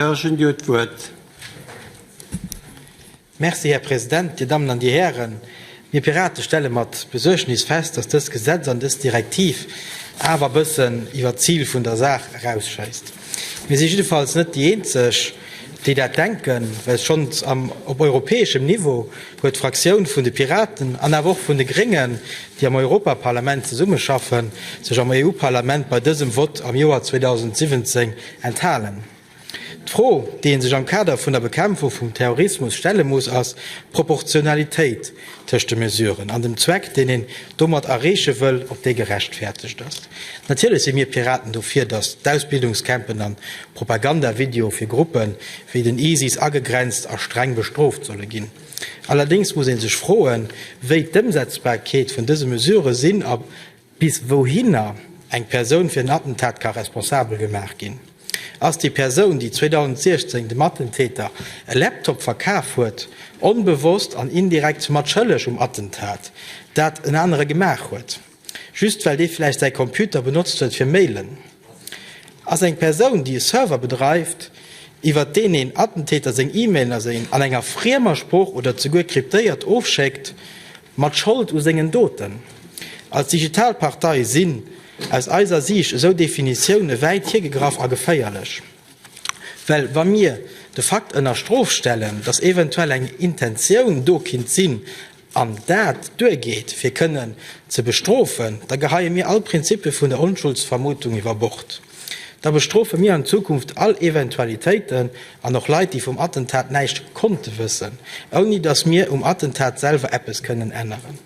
Här Jeune, Dir hutt d'Wuert. Merci, Här President. Dir Dammen an Dir Hären, mir Pirate stelle mat Besuergnis fest, dass dëst Gesetz an dës Direktiv awer e bëssen iwwert d'Zil vun der Saach erausschéisst. Mir si jiddefalls net déi Eenzeg, déi dat denken, well schonns am op europäeschem Niveau huet d'Fraktioun vun de Piraten an awer och vun de Gréngen, déi am Europaparlament zesummeschaffen, sech am EU-Parlament bei dësem Vott am Joer 2017 Enthalen. D'Fro, déi ee sech am Kader vun der Bekämpfung vum Terrorismus stelle muss, ass d'Proportionalitéit tëscht de Mesuren an dem Zweck, deen een domat erreeche wëll, ob déi gerechtfertegt ass. Natierlech si mir Piraten dofir, datt d'Ausbildungscampen an d'Propagandavideoe fir Gruppe wéi den ISIS agegrenzt a streng bestrooft solle ginn. Allerdéngs muss ee sech froen, wéi d'Ëmsetzbarkeet vun dëse Mesurë sinn a, Bis wouhinner eng Persoun fir en Attentat ka responsabel gemaach ginn, ass déi Persoun, déi 2016 dem Attentäter e Laptop verkaf huet, onbewosst an indirekt zu matschëlleg um Attentat, dat en anere gemaach huet, just well dee vläicht säi Computer benotzt huet fir mailen. Ass eng Persoun, déi e Server bedreift, iwwert deen een Attentäter seng E-Mailen an enger friemer Sprooch oder zeguer kryptéiert ofschéckt, Mat Schold u sengen Doten. Als digital Partei sinn aus eiser Siicht esou Definitioune wäit hiergegraff a geféierlech. Well wa mir de Fakt ënner Strof stellen, datt eventuell eng Intentioun do kinnt sinn an dat duergeet fir kënnen ze bestrofen, da geheie mir all Prinzipe vun der Onschuldsvermutung iwwer Bord. Da bestrofe mir an Zukunft all Eventualitéiten an och Leit, déi vum Attentat näischt konnte wëssen, ouni datt mir um Attentat selwer eppes kënnen änneren.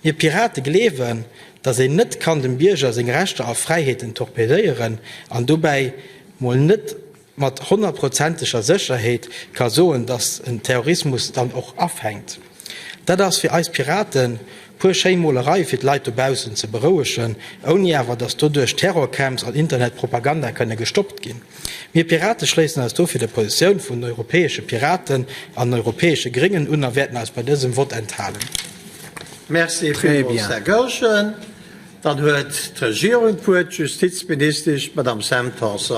Mir Pirate gleewen, datt een net kann dem Bierger seng Rechter a Fräiheeten torpedéieren an dobäi mol net, mat honnertprozenteger Sécherheet ka soen, datt den Terrorismus dann och afänkt. Dat ass fir eis Piraten puer schéi Molereie fir d'Leit dobaussen ze berouegen, ouni awer datt doduerch Terrorcamps an Internetpropaganda kënne gestoppt ginn. Mir Pirate schléissen eis dofir der Positioun vun den europäesche Piraten an den europäesche Gréngen un a wäerten eis bei dësem Vott enthalen. Merci villmools, Här Goergen. Dann huet d'Regierung d'Wuert, d'Justizministesch, d'Madame Sam Tanson.